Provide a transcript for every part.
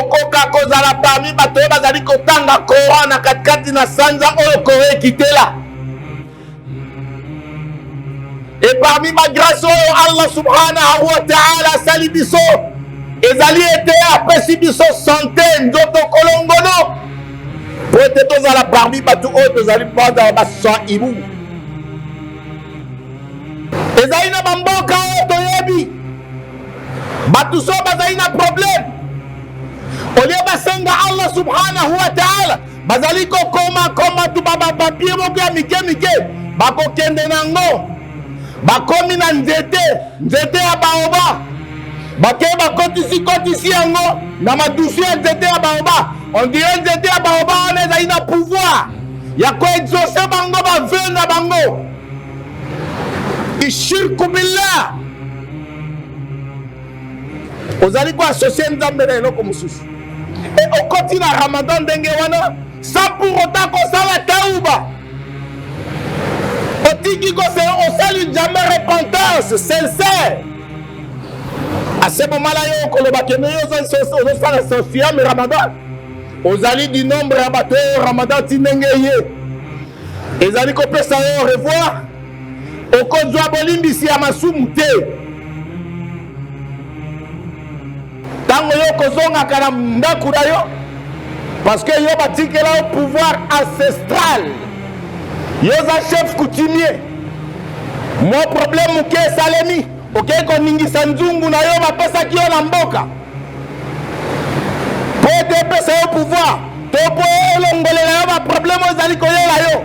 okoka kozala parmi bato oyo bazali kotanga coran na katikati na sanza oyo koro ekitela e parmi bagrase oyo allah subhanahu wa taala asali biso ezali ete apesi biso sante nzoto kolongono po ete tozala parmi bato oyo tozali bazala basaimu ezali na bamboka oyo toyebi bato so bazali na problème olie basenga allah subhanahu wa taala bazali kokoma koma tuba bapapie moko ya mike mike bakokende na yango bakomi na nzete nzete ya baoba bakei bakotisi kotisi yango na madusu ya nzete ya baoba ondire nzete ya baoba wana ezali na pouvoir ya koexauce bango baveu na bango ishirku billah ozali ko associe nzambe na eloko mosusu e okoti na ramadan ndenge wana sans pour autant kosala tauba otiki kose osali jamais repentance sincère ase bomala yo okoloba kende yo ozosala sosiame ramadan ozali du nombre ya bato oyo ramadan ti ndenge eye ezali kopesa yo revoir okozwa bolimbisi ya masumu te ntango yo okozongaka na ndako na yo parceke yo batikela yo pouvoir ancestral yo oza chef coutumier mwa problème moke esalemi okei koningisa nzungu na yo bapesaki yo na mboka mpo ete epesa yo pouvoir to mpo elongolela yo baproblème oyo ezali koyela yo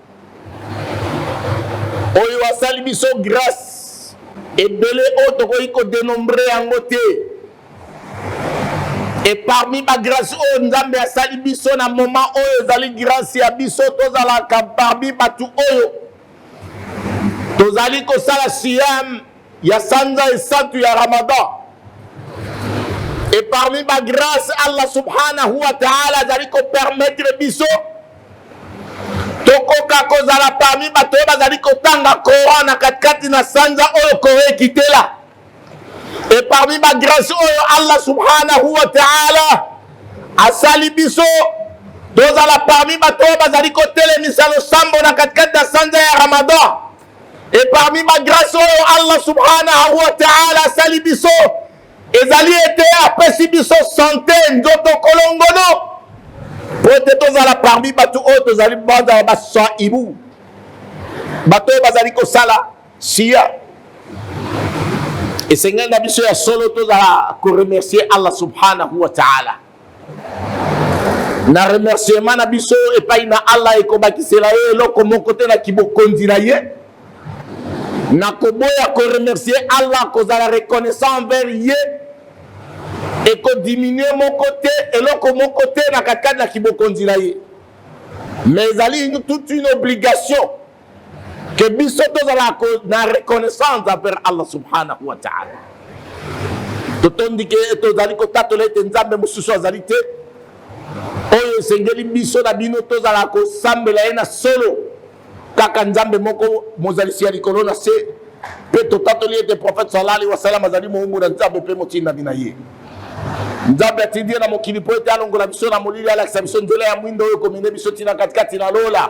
oyo asali biso grace ebele oyo tokoki kodenombre yango te e parmi bagrâce oyo nzambe asali biso na moment oyo ezali grâce ya biso tozalaka parmi bato oyo tozali kosala siam ya sanza esantu ya ramadan e parmi bagrâce allah subhanahu wa taala azali kopermettre biso tokoka kozala parmi bato oyo bazali kotanga coran na katikati na sanza oyo kore ekitela e parmi bagrâce oyo allah subhanahu wa taala asali biso tozala parmi bato oyo bazali kotelemisa losambo na katikati ya sanza ya ramadan e parmi bagrâce oyo allah subhanahu wa taala asali biso ezali ete apesi biso sante nzoto kolongono mpo ete tozala parmi bato oyo tozali bazala basaibu bato oyo bazali kosala siya esengeli na biso ya solo tozala koremercie allah subhanahu wa taala na remerciement na biso epai na allah ekobakisela ye eloko moko te na kibokonzi na ye na koboya koremercie allah kozala reconnaissant envers ye ekodiminue moko te eloko moko te na katikati na kibokonzi na ye mais ezali toute une obligation ke biso tozala na reconnaissance envers allah subhanahu wa taala totondi ke tozali kotatola ete nzambe mosusu azali te oyo esengeli biso na bino tozala kosambela ye na solo kaka nzambe moko mozalisi ya likolo na se mpe totatoli ete profete sala alihi wasalam azali moumbu na nzambe mpe motindami na ye nzambe atindi ye na mokili mpo ete alongola biso na molili alakisa biso nzela ya mwindo oyo komende biso ntina katikati na lola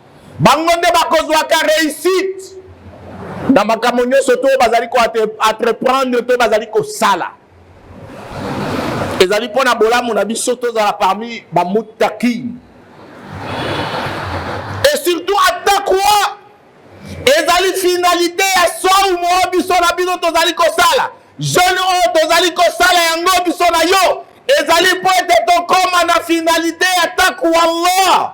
bango nde bakozwaka réussite na makambo nyonso to bazali koentreprendre to bazali kosala ezali mpo na bolamu na biso tozala parmi bamutaki et surtout atakwa ezali finalité ya saumo oyo biso na bino tozali kosala jeune oyo tozali kosala yango biso na yo ezali mpo ete tokóma na finalité ya taku allah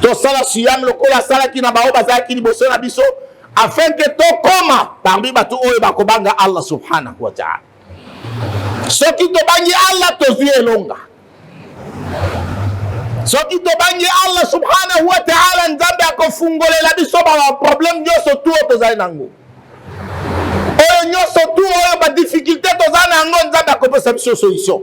tosala siyame lokola asalaki na baoyo bazalaki liboso na biso afin ke tokoma parmi bato oyo bakobanga allah subhanahu wa taala soki tobangi allah tozwi elonga soki tobangi allah subhanahu wa taala nzambe akofungolela biso baproblème nyonso tu oyo tozali na yango oyo nyonso tu oyo badifficulté tozali na yango nzambe akopesa biso solution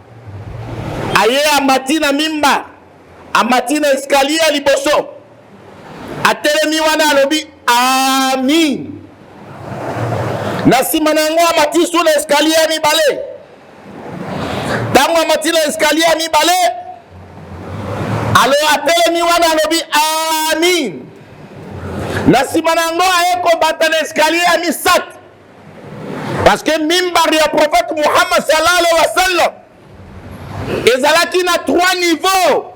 aye amati na mimba amati na eskaliye ya liboso atelemi wana alobi amin na nsima na yango amati su na eskaliye ya mibale ntango amati na eskaliye ya mibale alo atelemi wana alobi amin na nsima na yango aye kobata na eskaliye ya misato Parce que mimbar ya prophète Muhammad sallallahu alaihi wa sallam ezalaki na trois niveaux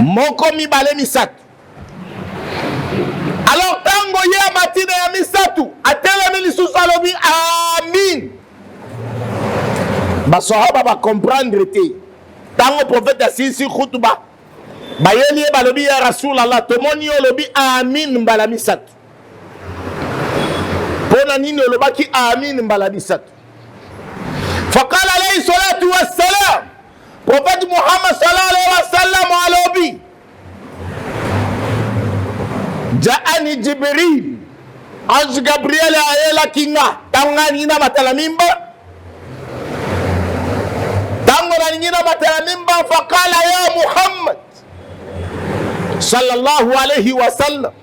moko mibale misato alors ntango ye amati na ya misato atelemi lisusu alobi amin basahaba bacomprendre te ntango profete asilisi khutuba bayeli ye balobi ya rasulallah tomoni yo olobi amin mbala misato mpo na nini olobaki amin mbala misato fakala alaihi salatu wassalam profete muhammad sallallahu alaihi wasallam alobi jaani jibril ange gabriel ayelaki nga ntango ngai alingi na matala mimba ntango nalingi na matala mimba fakala ya muhammad sallallahu alaihi wasallam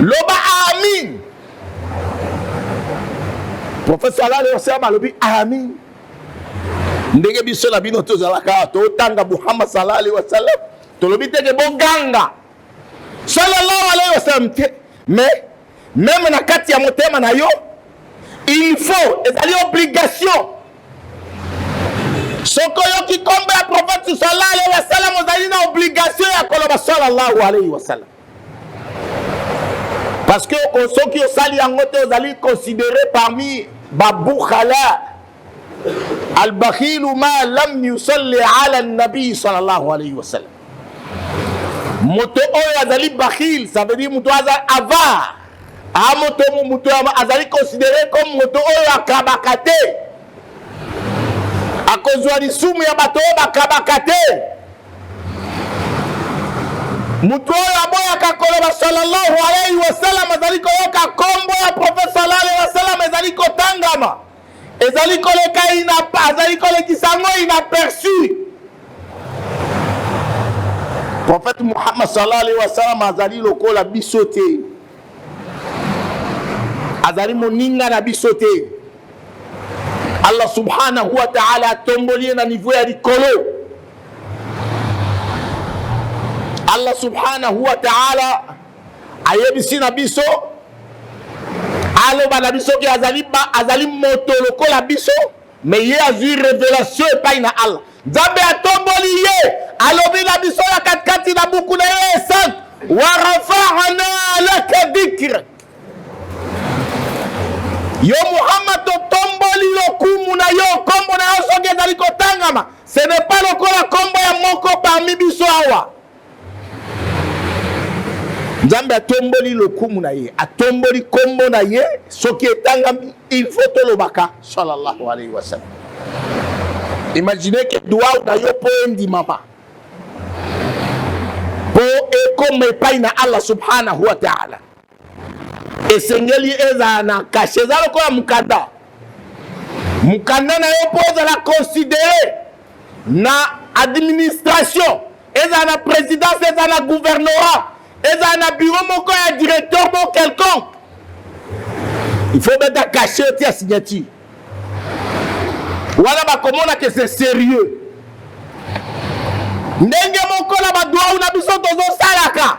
loba amin professeur alale osema alobi amin ndenge biso na bino tozalaka totanga muhammad sallallahu alaihi wasallam tolobi teke boganga sallallahu alaihi wasallam te mais meme na kati ya motema na yo il faut ezali obligation soki oyoki kombo ya prophète sallallahu alayhi wa sallam ozali na obligation ya koloba sallallahu alayhi wa sallam parce que soki osali yango te ozali considéré parmi babukhala albakhilu ma lam yusalli ala nabii sallallahu alaihi wasallam moto oyo azali bakhil ça veut dire moto aza avare a moto moto azali considéré comme moto oyo akabaka te akozwa lisumu ya bato oyo bakabaka te moto oyo aboyaka koloba sallallahu alaihi wasallam azali koyoka nkombo ya profeta sallallahu alaihi wasallam ezali kotangama ezali koleka inapa azali kolekisa yango inaperçu prophète muhammad sallallahu alaihi wasallam azali lokola biso te azali moninga na biso te allah subhanahu wa taala atomboli ye na niveau ya likolo allah subhanahu wa taala ayebisi na biso aloba na biso ke azali, ba, azali moto lokola biso me ye azwi revelation epai na allah nzambe atomboli ye alobi na biso ya katikati na buku na ye esante warafana laka dikre yo muhammad totomboli lokumu na yo nkombo na yo soki ezali kotangama ce n'est pas lokola nkombo ya moko parmi biso awa nzambe atomboli lokumu na ye atomboli nkombo na ye soki etangami il faut tolobaka salallahu alaihi wasallam imagine ke duau na yo mpo endimama mpo ekoma epai na allah subhanahu wa taala esengeli ezala na kashe eza lokola mokanda mokanda na yo mpo ozala considere na administration ezala na présidence ezala na gouvernorat ezala na bureau moko ya directeur moko quelconque il faut beta kashe otia signature wana bakomona ke c'est sérieux ndenge moko na badwau na biso tozosalaka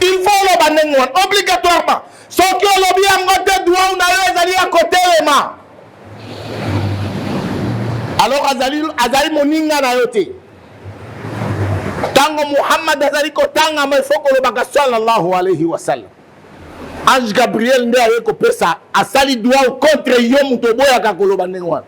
il faut oloba ndenge wana obligatoirement soki olobi yango te duau na yo ezali ya kotelema alors azali, azali moninga na yo te ntango muhammad azali kotangama ifo kolobaka salallahu alaihi wasallam ange gabriel nde aye kopesa asali duau contre yo moto oboyaka koloba ndenge wana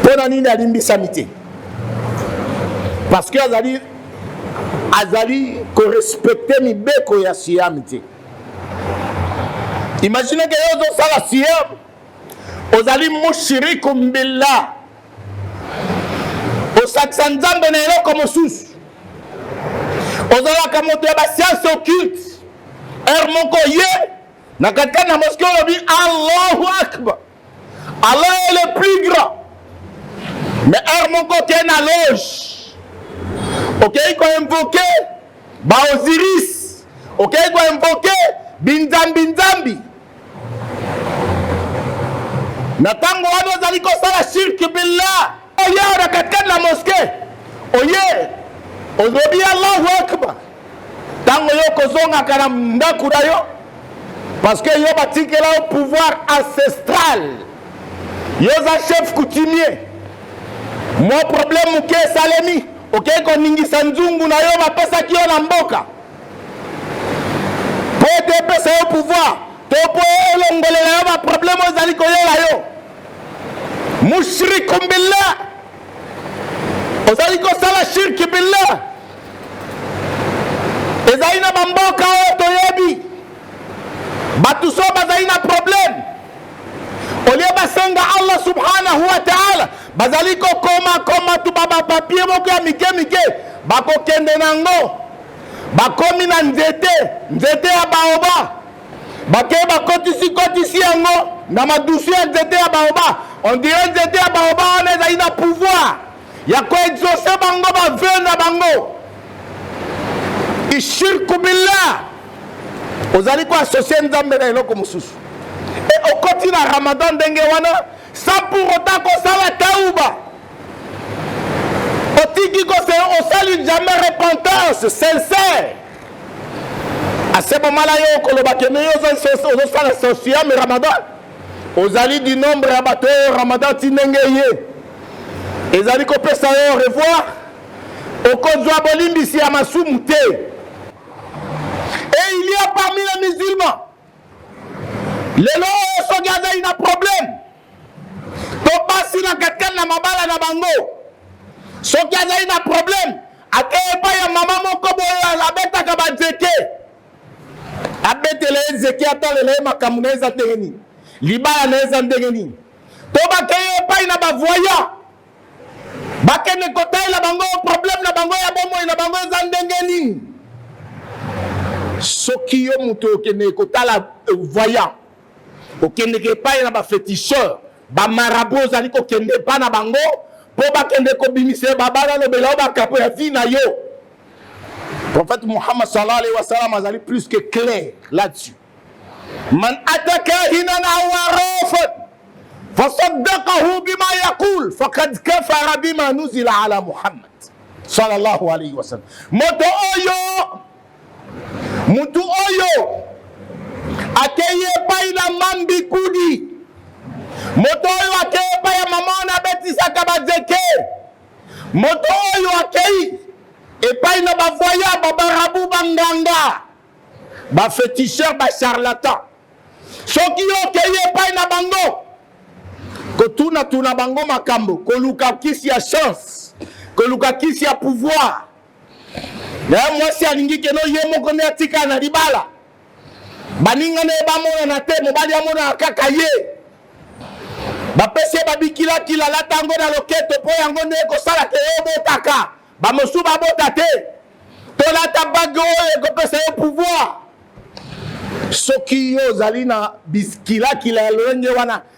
mpo na nini alimbisami te parce que azali azali korespecte mibeko ya siam te imagine ke yo ozosala siam ozali mushiriku billah osakisa nzambe na eloko mosusu ozalaka moto ya basianse occulte heure moko ye na katikati na moske olobi allahu akbar Allah est le plus grand mais heure moko okei na loge okei koinvoke baosiris okei koinvoke binzambinzambi na ntango wana ozali kosala shirki billah oye na katikati na moske oye olobi allahu akbar Tango yo kozongaka na ndaku na yo parce que yo batikela yo pouvoir ancestral yo oza chef coutumier mwa problème moke esalemi okei koningisa nzungu na yo bapesaki yo na mboka mpo ete epesa yo pouvoir to mpo elongolela yo baproblème oyo ezali koyela yo mushriku billah ozali kosala shirki billah ezali na bamboka oyo toyebi bato so bazali na problème olie basenga allah subhanahu wa taala bazali kokoma koma tuba bapapie moko ya mike mike bakokende na yango bakomi na nzete nzete ya baoba bake bakotisi kotisi yango na madusu ya nzete ya baoba ondire nzete ya baoba wana ezali na pouvoir ya koexauce bango baveu na bango ishirku billah ozali koassocie nzambe na eloko mosusu e okoti na ramadan ndenge wana sans pour autant kosala tauba otiki kose osali jamais repentance sincère asebomala yo okoloba kende yo ozosala sosiam ramadan ozali du nombre ya bato oyo ramadan ti ndenge ye ezali kopesa yo revoir okozwa bolimbisi ya masumu te et il y a parmi les musulmans lelo oyo soki azali na problème to basi na katikati na mabala na bango soki azali na probleme ake epai ya mama moko boye abetaka banzete abetela ye nzete atalela ye makambo na ye eza ndenge nini libala na ye eza ndenge nini to bakei epai na bavoya bakende kotalela bango probleme na bango ya bomoi na bango eza ndenge nini soki yo moto okende kotala eh, voyant okendeke epai na bafeticheur bamarabu ozali kokende epai na bango mpo bakende kobimisa babala alobela yo bakapo ya vi na yo prophète muhammad sallallahu alaihi wasallam azali plus que clair là-dessus man ataka hinan aw arafan fasaddaqahu bima yaqul faqad kafara bima nuzila ala muhammad sallallahu alaihi wasallam moto oyo Mutu oyo akeyi epai na mambi kudi moto oyo akeyi epai ya mama wana abetisaka bajeke moto oyo akeyi epai na bavoya babarabu banganga bafeticheur bacharlatan soki yo okeyi epai na bango kotunatuna bango makambo koluka kisi ya chance koluka kisi ya pouvoir Yaya mwasi alingi keno ye moko nde atikala na libala, baninga na ye bamonana te, mobali amonana kaka ye. Bapesi ye babikilakila, alata yango na loketo mpo yango nde ekosala te yo obotaka, bamosusu babota te. Tolata bage oyo ekopesa yo pouvoir. Soki yo ozali na biskilakila ya lolenge wana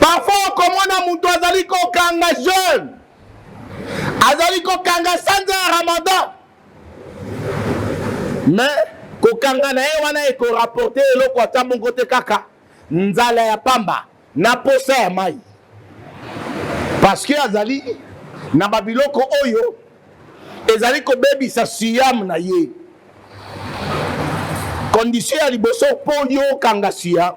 parfois okomona moto azali kokanga jeune azali kokanga sanza ya ramadan mais kokanga na ye wana ekorapporte eloko ata moko te kaka nzala ya pamba na posa ya mai parce que azali na babiloko oyo ezali kobebisa siyame na ye kondisio ya liboso mpo yo okanga siyame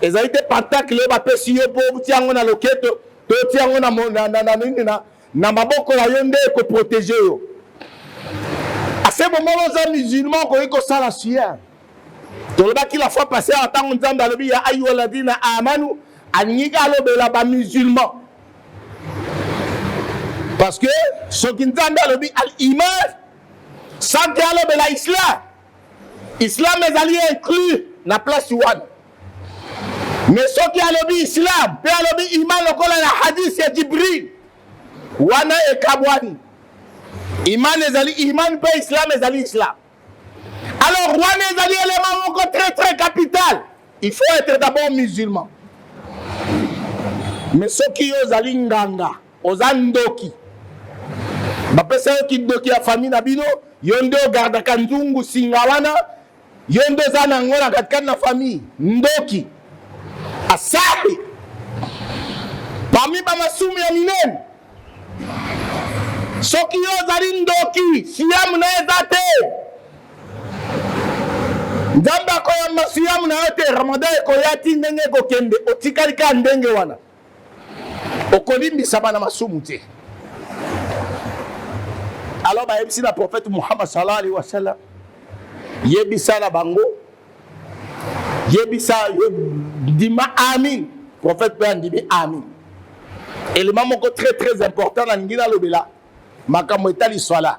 ezali te pantakle oyo bapesi yo mpo otia yango na loketo to otia yango na, na, na, na, nini na, na maboko na yo nde ekoprotege yo ase bomoko oza musulman okoki kosala sien tolobaki la fois passé awa ntango nzambe alobi ya ayuha ladina amanu alingi alobela bamusulman parce que soki nzambe alobi al iman sanke alobela islam Islam ezali inclus na place wana. Mais soki alobi Islam pe alobi iman lokola na hadith ya Jibril, wana ekabwani. Iman ezali iman pe Islam ezali Islam. Alors wana ezali element moko très très capital. Il faut être d'abord musulman. Mais soki yo ozali nganga Oza ndoki. Bapesa yo kindoki ya famille na bino, yo nde ogardaka nzungu singa wana, yo nde oza na yango na katikati na famille. Ndoki. Asabi. Parmi ba masumu ya minene. Soki yo ozali ndoki, siamu na eza te. Nzambe akoyamba siamu na yo te, Ramadan ekoya ti ndenge ekokende, otikali kaka ndenge wana. okolimbisa bana masumu te alors bayebisi na prophète muhammad sallallahu alaihi wasallam yebisa na bango yebisa ndima amin prophète mpe andimi amin élément moko très très important nalingi nalobela makambo etali swala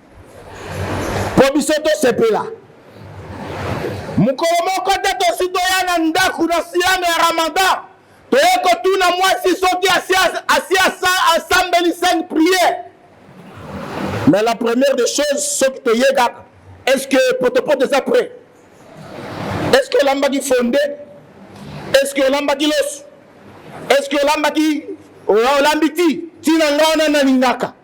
mpo biso tosepela mokolo moko te tosi toya na ndako na siame ya ramadan toye kotuna mwasi soki asi asambeli cinq priere mais la première des choses soki toye kaka est ce que potopoto eza près est ce que olambaki fonde est ce que olambaki loso est ce que olambaki olambi ti ntina nga wana nalingaka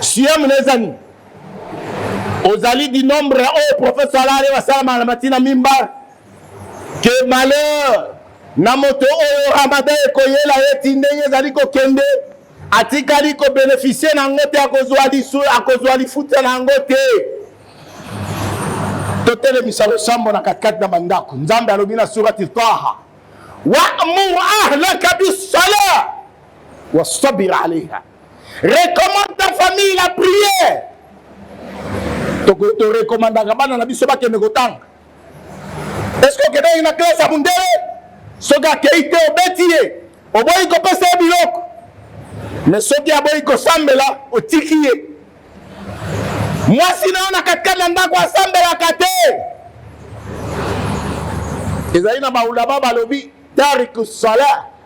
Siam na eza nini? Ozali di nombre oyo professeur alali basalama na matina mimba ke malheur na moto oyo ramada ekoyela ye ti ndenge ezali kokende atikali kobenefisie na yango te akozwa lisu akozwa lifuta na yango te totelemisa losambo na katikati na bandako nzambe alobi na surati taha wamur ahlaka bisala wasabir alaiha recommande ta famille la prière torekomandaka bana na biso bakende kotanga eske okendaki na klase ya mundele soki akei te obeti ye oboyi kopesa ye biloko me soki aboyi kosambela otiki ye mwasi na yo na katikati na ndako asambelaka te ezali na baulama balobi tariku salah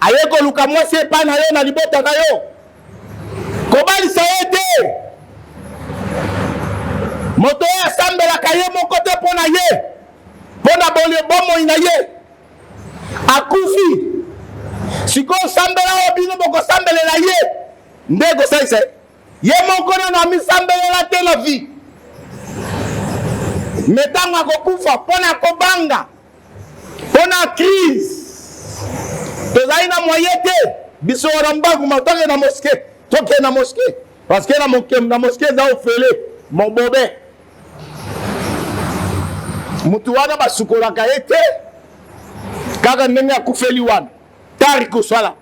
aye koluka mwasi epai na yo na libota na yo kobalisa ye te moto oyo asambelaka ye moko te mpo na ye mpo na bomoi na ye akufi sikoyo osambela oyo bino bokosambelela ye nde ekosalisa ye moko nano amisambelela te na vie me ntango akokufa mpo na kobanga mpona crise tozali na moye te biso wana mbangu matake na moske toke na moske parce que na mokem na moske eza ofele mobobe motu wana basukolaka ye te kaka ndenge akufeli wana tari kosala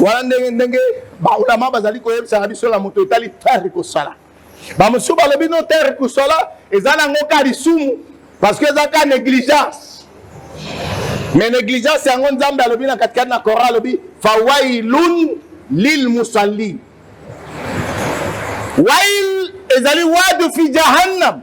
wana ndenge ndenge baulama bazali koyebisaka biso na moto etali terre kosala bamosusu balobi no terre kosala eza nango ka lisumu parce que eza ka négligence mais négligence yango nzambe alobi na katikati na coran alobi fawailun lil musallin wail ezali wadu fi jahannam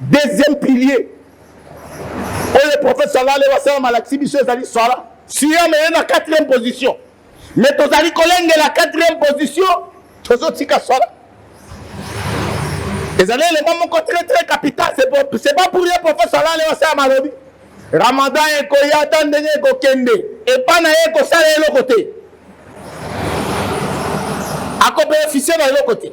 deuxième pilier oyo prophète salale wasala malakisi biso ezali sala siam eye na quatrième position mais tozali kolengela quatrième position tozotika sala ezali elema moko très très capital c'est pas pour ye prophète salale wasala malobi ramadan ekoya ata ndenge ekokende epai na ye ekosala eloko te akopefise na eloko te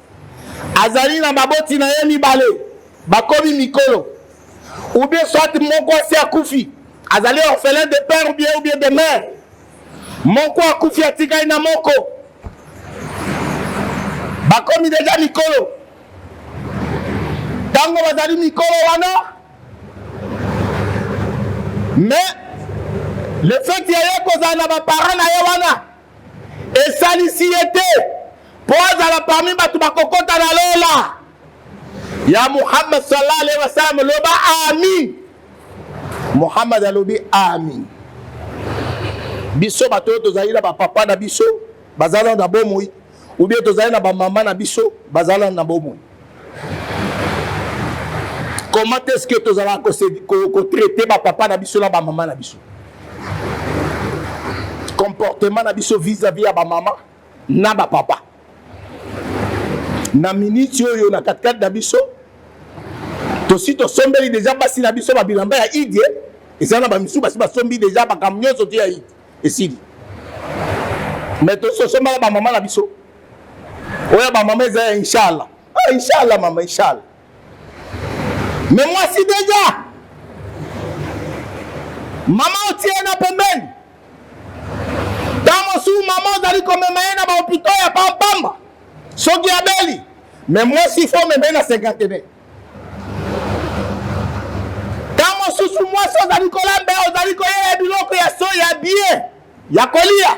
azali na baboti na ye mibale bakomi mikolo ou bien soit moko asi akufi azali orphelin de père ou bien ou bien de mère moko akufi atikali na moko bakomi deja mikolo ntango bazali mikolo wana mais le fait ya ye kozala na baparent na ye wana esalisi ye te mpo azala parmi bato bakokota na lola ya muhammad sallallahu alaihi wasallam loba amin muhammad alobi amin biso bato oyo tozali na bapapa na biso bazala na bomoi ubie tozali na bamama na biso bazala na bomoi comment est ce que tozalaka kotraite bapapa na biso na bamama na biso comportement na biso vis-à-vis ya bamama na bapapa na miniti oyo na katikati na biso tosi tosombeli deja basi na biso babilamba ya idie eza na bamisusu basi basombi deja makambo nyonso te ya idi esili me tosi tosombaka bamama na biso oya ba mama eza ya inshallah ah, inshallah mama inshallah me mwasi deja mama otie ye na pembeni ntango mosusu mama ozali komema ye na bahopito ya pampamba soki abeli me mwasi fo omema ye na senkantene ntango mosusu mwasi ozali kolamba ozali koyela biloko ya so ya bie ya kolia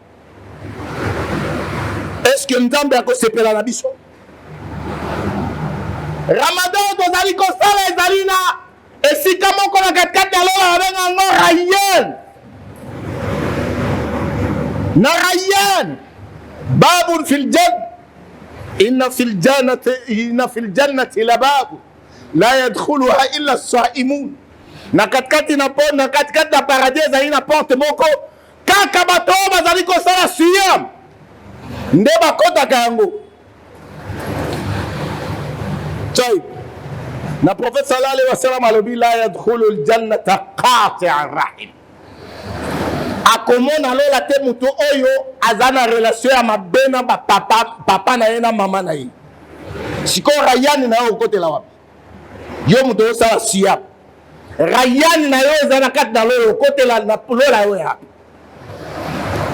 eske nzambe akosepela na biso ramadan tozali kosala ezali na esika moko na katikati ya lola babenga yango rayen na rayen babun fil jan inna fil jannati inna fil jannati la babu la yadkhuluha illa saimun na katikati na na katikati ya paradis ezali na porte moko Kaka bato oyo bazali kosala siyam nde bakotaka yango. Chai. Na prophète sallallahu alayhi wa sallam alobi la yadkhulu aljannata qati'a rahim. Akomona lola te moto oyo aza na relation ya mabe na papa, papa na ye na mama na ye. Sikoyo rayani na yo okotela wapi? yo moto osala siya rayane na yo eza na kati na loyo okotela na lola yo yapi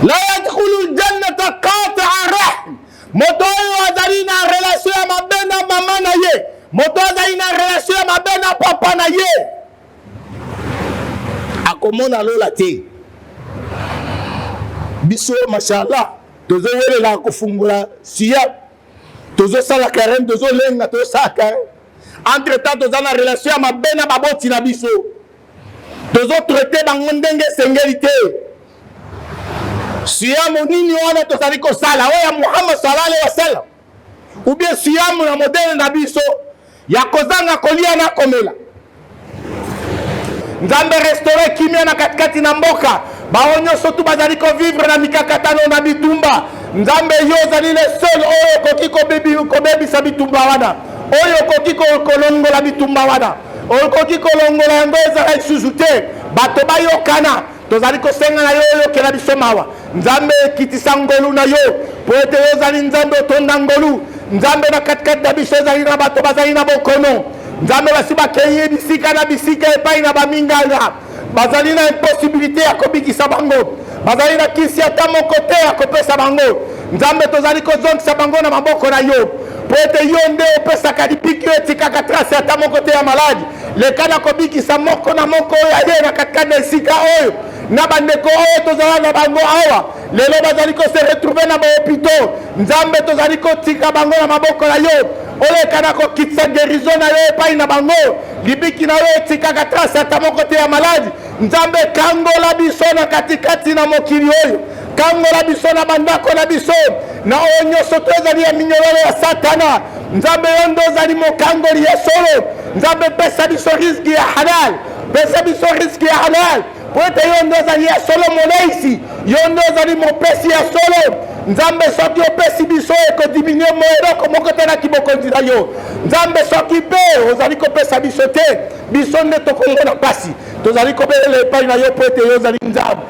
la yadkhulu ljannata qataa rahm moto oyo azali na relation ya mabe na mama na ye moto azali na relation ya mabe na papa na ye akomona lola te biso mashallah tozowelela kofungola siya tozo sala carême tozo lenga tozo sala carême entre temps toza na relation ya mabe na baboti na biso tozo traite bango ndenge esengeli te siamo nini wana tozali kosala oyo ya muhammad salala wasalam ou bien siamo na modele na biso ya kozanga kolia na komela nzambe restaure kimia na katikati na mboka baoyo nyonso tu bazali kovivre na mikakatano na bitumba nzambe yo ozali le seul oyo okoki kobebisa bitumba wana oyo okoki kolongola bitumba wana okoki kolongola yango ezala lisusu te bato bayokana Tozali kosenga na yo oyokela biso mawa. Nzambe, kitisa ngolu na yo, mpo ete yo ozali Nzambe otonda ngolu. Nzambe, na katikati na biso ezali na bato bazali na bokono. Nzambe, basi bakei bisika na bisika epai na baminganga, bazali na imposibilite ya kobikisa bango, bazali na kisi ata moko te ya kopesa bango. Nzambe, tozali kozongisa bango na maboko na yo, mpo ete yo nde opesaka lipiki, oyo etikaka trase ata moko te ya maladi. leka na kobikisa moko na moko oyo aye na katikati na esika oyo na bandeko oyo tozala na bango awa lelo bazali kose retrouve na bahopitau nzambe tozali kotika bango na maboko na yo oleka na kokitisa gerizo na yo epai na bango libiki na yo etikaka trase ata moko te ya maladi nzambe kangola biso na katikati na mokili oyo kangola biso na bandako na biso na oyo nyonso to ezali ya minyololo ya satana nzambe yo nde ozali mokangoli ya solo nzambe pesa biso riski ya halal pesa biso riski ya halal mpo ete yo nde ozali ya solo moleisi yo nde ozali mopesi ya solo nzambe soki opesi biso ekodiminue mo eloko moko te na kibokonzi na yo nzambe soki mpe ozali kopesa biso te biso nde tokongo na mpasi tozali kobelela epai na yo mpo ete yo ozali nzambe